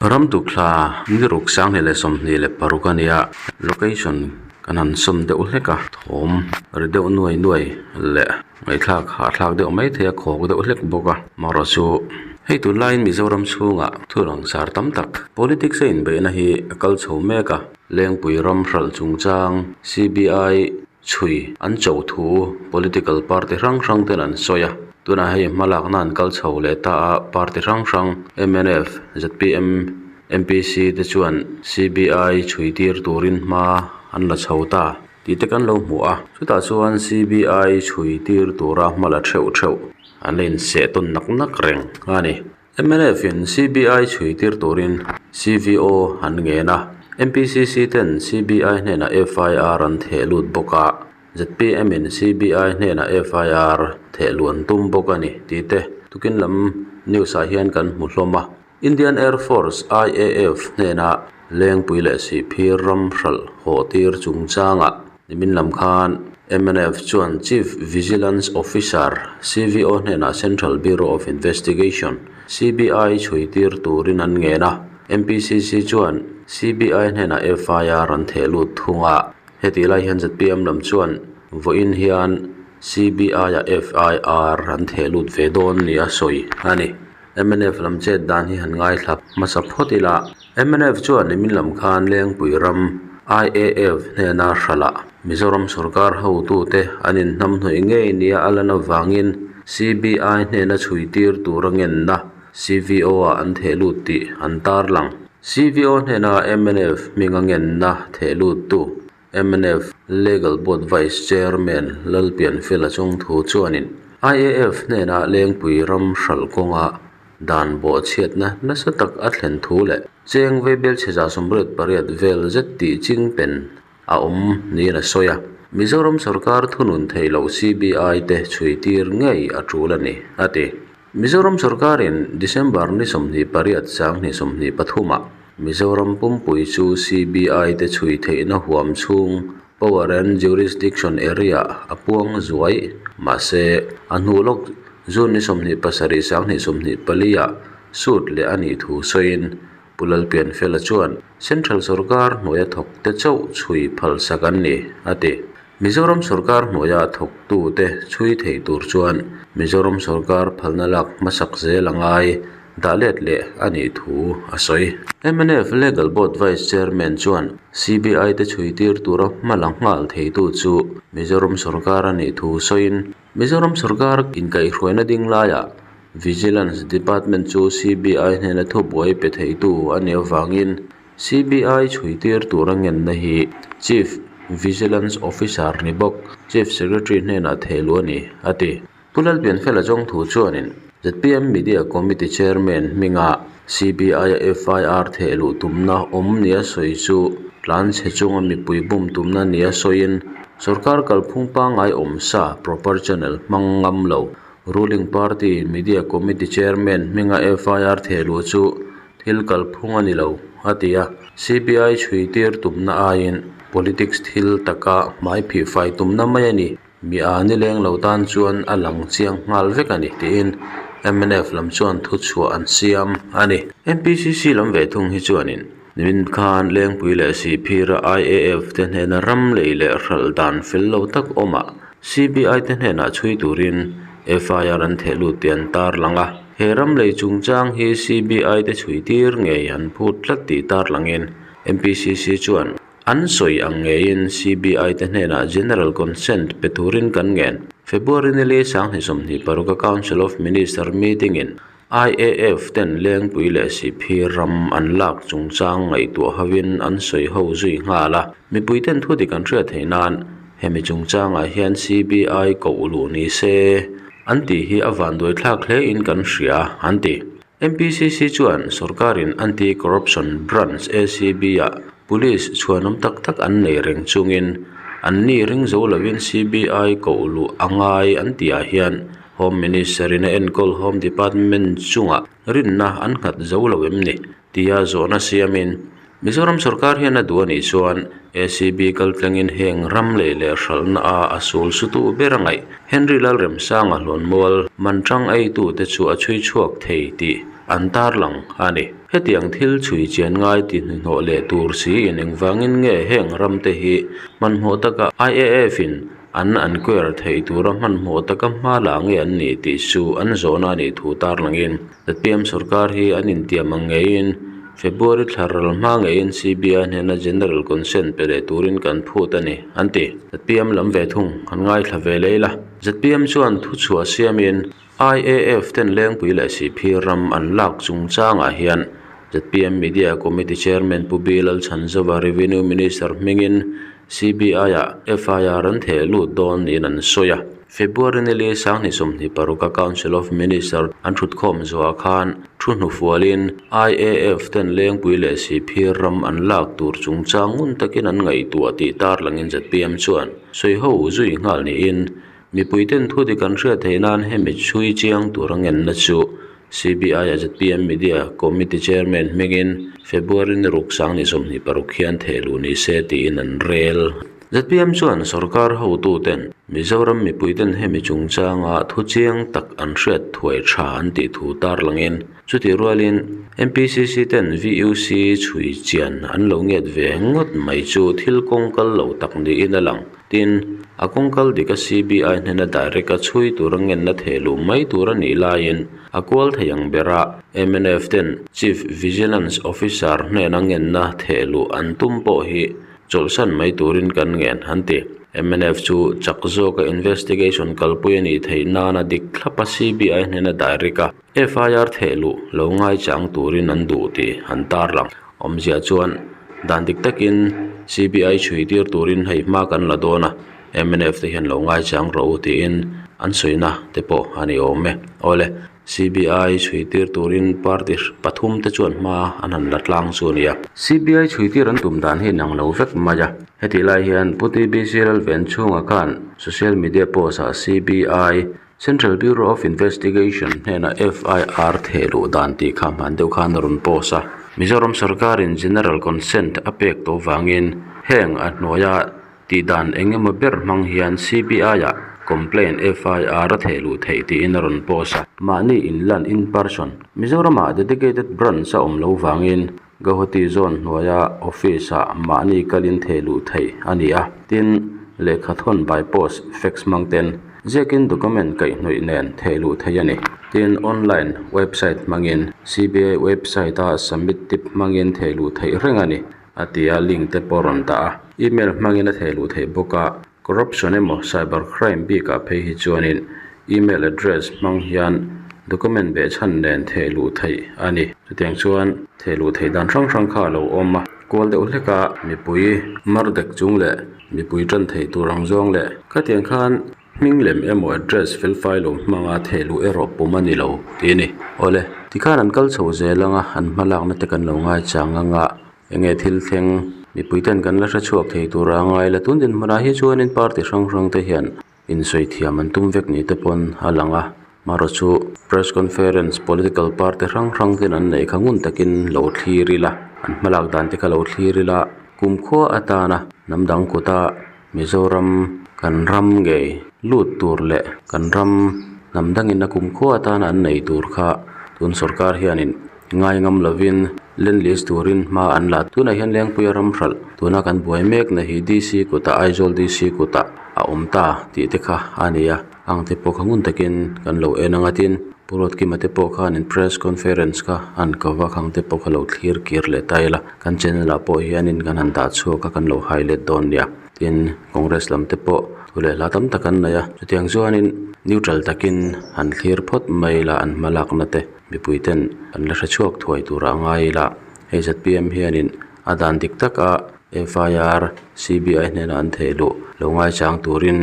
Ramduhthla ni ruk sang hneh leh sawmhnih leh paruk a ni a location kan han sawm deuh hlek a thawm ri deuh nuai nuai leh ngaihthlak hahthlak deuh mai theih a khawk deuh hlek bawk a amarawhchu chu hei tunlai mizoram chhungah thut rangsar tam tak politics a inbeihna hi a kal chho mek a. Lengpui ram hralh chungchang CBI chhui an cho thu political party hrang hrang ten an sawi a, tunah hei hma lakna an kal chho leh ta a, party hrang hrang MNF, zpm, MPC te chuan CBI chhui tir turin hma an la chho ta tih te kan lo hmu a, chutah chuan CBI chhui tir tura hma la theuh theuh an la inseh tawn nak nak reng a ni. Mnf in CBI chhuihtir turin CVO an ngen a, NPCC ten CBI hnenah FIR an thehlut bawk a, ZPM in CBI hnenah FIR thehluh an tum bawk a ni tih te tukin lam news ah hian kan hmu hlawm a. Indian Air Force, IAF, hnenah lengpui leh sihphir ram hralh hawhtir chungchangah, Nimin lam khan MNF chuan Chief Vigilance Officer, CVO, hnenah Central Bureau of Investigation, CBI, chhui tir turin an ngen a. MPCC chuan CBI hnenah FIR an theh lut thung a. Hetih lai hian zpm lam chuan vawiin hian CBI ah FIR an theh lut ve dawn nia sawi a ni. MNF lam chet dan hi han ngaithla hmasa phawt ila. Mnf chuan i min lam khan Lengpui ram IAF hnena hra lah Mizoram sawrkar hotu te an in hnam hnawih ngei nia a lan avangin CBI hnena chhui tir tura ngenna CVO ah an thehlut tih an tarlang. CVO hnena mnf hminga ngenna thehlut tu mnf legal board vice chairman Lalpianfela Chawngthu chuanin IAF hnenah lengpui ram hral kawnga dan bawhchhiatna nasa tak a thlen thu leh cheng veibel chheza sumret pariat vel zet tih ching pen a awm niin a sawi a. Mizoram sawrkar thunun theihloh CBI te chhuitir ngei a tul a ni, a ti. Mizoram sawrkarin December ni sawmhnih pariat sang ni sawmhnih pathuma Mizoram pumpui chu CBI te chhui theihna huam chhung Power and Jurisdiction Area a puang zuai mahse a hnu lawk June ni sawmhnih pasarih sang ni sawmhnih pali ah suit leh a nih thu sawiin Pu Lalpianfela chuan Central sawrkar hnuaia thawkte chauh chhui phalsak an ni a ti. Mizoram sawrkar hnuaia thawktute chhui theih tur chuan Mizoram sawrkar phalna lak hmasak zel a ngai dah let leh a nih thu a sawi. Mnf Legal Board Vice Chairman chuan CBI te chhui tir tura hmalam nghal theitu chu Mizoram sawrkar a nih thu sawiin Mizoram sawrkar inkaihhruaina ding laia Vigilance Department chu CBI hnena thubuai pe theitu a ni avangin CBI chhuitir tura ngenna hi Chief Vigilance Officer ni bawk Chief Secretary hnenah thehlu a ni, a ti. Pu Lalpianfela zawng thu chuanin. zpm Media Committee Chairman hminga CBI-a FIR theh luh tumna awm nia sawi chu Tlanchhe chunga mipui bum tumna nia sawiin sorkar kalphung pangai awm sa proper channel hmang ngam lo ruling party Media Committee Chairman hminga FIR theh luh chu thil kalphung a ni lo a ti a. CBI chhuitir tumna aiin politics thil taka hmai phihfai tumna mai a ni. Mi aa ni leng lo tan chuan a lang chiang nghal vek a ni, tiin MNF lam chuan thu chhuah an siam a ni. NPCC lam ve thung hi chuanin min khan lengpui leh sihphira IAF te hnena ram lei leh hral dan fel lo tak awmah CBI te hnenah chhui turin FIR an thehlut tih an tarlang a. He ram lei chungchang hi CBI te chhui tir ngei an phut tlat tih tarlangin NPCC chuan An sawi ang ngeiin CBI te hnenah General Consent pe turin kan ngen. February nili Sanghnih sawmhnih paruka Council of Minister meeting in IAF ten Lengpui leh Sihphir ram an lak chungchang ngaihtuah hovin an sawi ho zui nghal a. Mipui ten thu dik an hriat theih nan hemi chungchangah hian CBI koh luh nise an tih hi a vanduaithlak hle in kan hria an ti. MPCC chuan sorkarin anti corruption branch acb a police chhuanawm tak tak an nei reng chungin an ni ring zo lovin CBI kohluh a ngai an tihah hian Home Minister in a enkawl Home Department chungah rinna an nghat zo lo em ni? tia zawhna siamin-- Mizoram sawrkar hian a duh a nih chuan acb kal tlangin heng ram leh leh hralhna a a sul sutu ber a ngaih Henry Lalremsang a hlawnmual man tang eitu te chu a chhui chhuak thei tih an tarlang a ni. Hetiang thil chhui chian ngai tihnihnawh leh tur si in engvangin nge heng ram te hi hmanhmawh taka IAF in an enquire theih tura hmanhmawh taka hma la nge an ni tih chu an zawhna a nih thu tarlangin. Latvian sorkar hi an intiam ang ngeiin February thlar ral hma ngeiin CBI hnena general consent pe leh turin kan phut a ni, an ti. Zpm lam ve thung an ngaithla ve lei la. Zpm chuan thu chhuah siamin IAF ten lengpui leh sihphir ram an lak chung changah hian Zpm Media Committee Chairman Pu Bilalchan Zawa Revenue Minister hmingin CBI-a FIR an theh lut dawn niin an sawi a. February nili Sanghnih sawmhnih paruka Council of Ministers an thutkhawm zuaah khan thu hnufualin IAF ten Lengpui leh Sihphir ram an lak tur chungchang ngun takin an ngaihtuah tih tarlangin zpm chuan sawi ho zui nghal niin Mipui ten thu ti kan hriat theih nan hemi chhui chiang tura ngenna chu CBI a zpm Media Committee Chairman hmingin February ni ruk sang ni sawmhnih paruk hian thehluh ni se tiin an rel. Zpm chuan sawrkar hotu ten Mizoram mipui ten hemi chungchanga thu chiang tak an hriat thuai tha an tih thu tarlangin chuti rualin MPCC ten VUC chhui chian an lo ngiat ve ngawt mai chu thil kawng kal lo tak niin a lang. Tin, a kawng kal dik a CBI hnena direct a chhui tur a ngenna theh luh mai tur a nih laiin a kual thei ang ber a mnf ten Chief Vigilance Officer hnena ngenna theh luh an tum pawh hi chawlhsan mai turin kan ngen, an ti. Mnf chu chak zawka investigation kalpui a nih theih nana dik thlapa CBI hnena direct a. FIR theh luh lo ngaichang turin an duh tih an tarlang. Awmzia chuan dan dik takin CBI chhuitir turin hei hma kan la dawn a, mnf te hian lo ngaichang ro tiin an suihna te pawh a ni awm e. Awle CBI chhuitir turin party pathum te chuan hma an han la tlang chu a ni a. CBI chhuitir an tum dan hi a inang lo vek mai a. Hetihlai hian Pu TBCLL veng chhungah khan social media post ah CBI. Central Bureau of Investigation hnenah FIR theh duh dan tih kha hman deuh khan a rawn post a, Mizoram sarkarin general consent a pek tawh vangin heng a hnuaia tih dan eng emaw ber hmang hian CBI-ah complaint, FIR, a theh luh theih tiin a rawn post a. Mahni in lan in person Mizoramah dedicated branch a awm lo vangin Ka huti zawn hnuaia office ah mahni kal in thei luh theih a ni a, tin, lehkha thawn by post, fax hmang ten ziakin document kaihhnawih nen thei luh theih a ni. Tin, online website hmangin, CBI website a submit tip hmangin thei luh theih reng a ni, a ti a, link te pawh a rawn dah a. Email hmangin a thei luh theih bawk a, Corruption emaw cyber crime bik ah phei hi chuanin email address hmang hian document beh chhan nen theh luh theih a ni. Chutiang chuan theh luh theih dan hrang hrang kha a lo awm a. Kual deuh hlek a mipui mar dek chung leh mipui tan theih tur ang zawng leh khatiang khan hming lem emaw address felfai lo hmang a theh luh erawh pum a ni lo tih a ni. Awle tikhan an kal chho zel ang a an hma lakna te kan lo ngai chang ang a. Enge thil thleng mipui ten kan la hre chhuak thei tura a ngaila tun din hmunah hi chuanin party hrang hrang te hian insawi thiam an tum vek ni te pawn a lang a Marawchu press conference political party hrang hrang ten an nei kha ngun takin lo thlir ila an hmalak dan te kha lo thlir ila kumkhua atana hnam dang kuta-- Mizoram kan ram ngei lut tur leh kan ram hnam dangin a kum khua tan an nei tur kha tun sawrkar hianin ngai ngam lovin lendlease turin hma an la tunah hian Lengpuia ram hralh tuna kan buai mek na hi DC kutah Aizawl DC kutah a awm ta tih te kha a ni a. Ang te pawh kha ngun takin kan lo en a ngatin Purut Kima te pawh khanin press conference kha a han ko vak ang te pawh kha lo thlir kir leh ta ila kan channel ah pawh hianin kan han dah chhuak a kan lo hai let dawn nia tin congress lam te pawh thu leh hla tam tak an nei a chutiang chuanin neutral takin han thlir phawt mai ila an hma lak na te mipui ten an la hre chhuak thuai tur ah a ngai ila hei zat piam hianin a dan dik tak a FIR, CBI hnena an theih luh lo ngaichang turin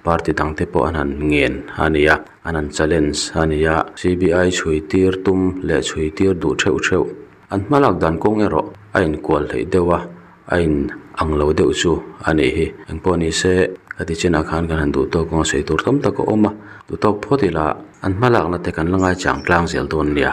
party dang te pawh an han ngen a nia, an han challenge a nia. CBI chhui tir tum leh chhui tir duh theuh theuh an hmalak dan kawng erawh a inkual theih deuh a, a in ang lo deuh chu a nih hi. Engpawh ni se ka ti chinah khan kan han duhtawk kawng a sawi tur tam tak a awm a, duhtawk phawt ila an hmalakna te kan la ngaichang tlang zel dawn nia.